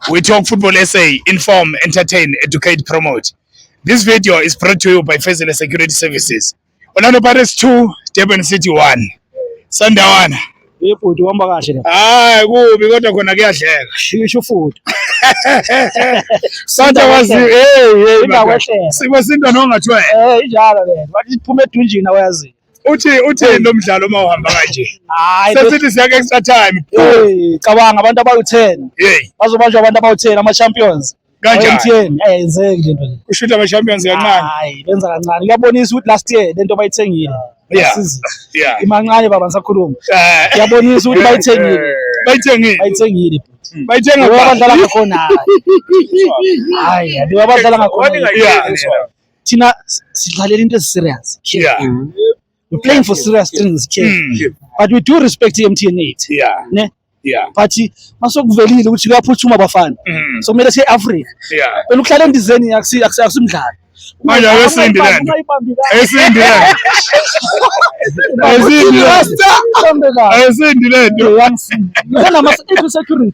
We talk football essay, inform, entertain, educate, promote. This video is brought to you by Fezile Security Services. Orlando Pirates 2, Durban City 1. Sandawana. Ibhuti uhamba kahle la. Hayi kubi kodwa khona kuyadleka. Shisho futhi. Santa wazi hey hey. Sibo sinto nongathiwa. Eh injalo le. Wathi phuma edunjini awayazi. uthi uthi lo mdlalo uma uhamba kanje hayi sesithi siya ke extra time hey cabanga abantu abawu10 hey bazobanjwa abantu abawu10 ama champions kanjani eh yenzeki lento nje ushuthi ama champions kancane hayi benza kancane kuyabonisa ukuthi last year lento bayithengile yeah yeah imancane baba ngisakhuluma eh. kuyabonisa ukuthi bayithengile bayithengile bayithengile hmm. bayithenga abadlala ngakhona hayi abadlala ngakhona thina sidlalela into ezi-serious yeah. mm. we're playing for serious things kid mm. but we do respect i-mtn eight yeah. ne yeah. but masokuvelile ukuthi kuyaphuthuma bafana mm. so kumele siye-afrika yeah. wena ukuhlala endizeni akusimdlalo manje akesimbi lento akesimbi lento akesimbi lento akesimbi lento kunama-security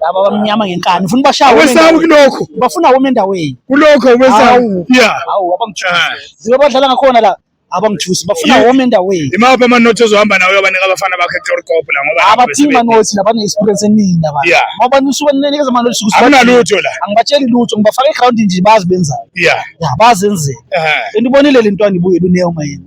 laba bamnyama ngenkani ufuna ubashaye awesaba kulokho bafuna wome endaweni kulokho awesaba yeah awu abangithusi ah. badlala ngakhona la abangithusi bafuna wome endaweni imaphi amanothi ozohamba nawo uyobanika abafana bakhe etorkop la ngoba abaphingi manothi labane-experience eningi laba ngoba nisuke ninikeza amanothi anginalutho la angibatsheli lutho ngibafaka egroundini nje bazi benzayo yeah bazenzela and ubonile le ntwana ibuye luneyo mayena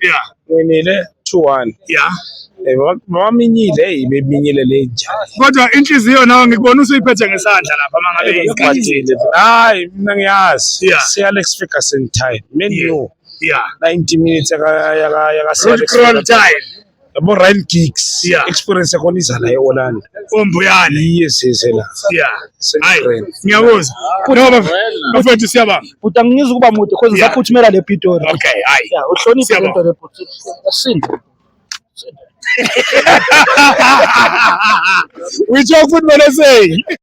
Yeah. Nginile 2-1. Yeah. Eh, baminyile hey beminyile le njani kodwa inhliziyo nawe ngikubona usuyiphethe ngesandla lapha mangabe iqadile hayi mina ngiyazi yeah. si Alex Ferguson time menu yeah. yeah 90 minutes yaka yaka yaka Alex Ferguson time yabo Ryan Giggs yeah. experience yakhona iza la eOrlando ombuyane yes yes la yeah hayi ngiyabuza no bafethu siyabanga buta ngizwe kuba mude cause ngisaphutshimela le Pitori okay hayi yeah uhloniphe le nto le bhuti asinda uyitsho futhi bana seyi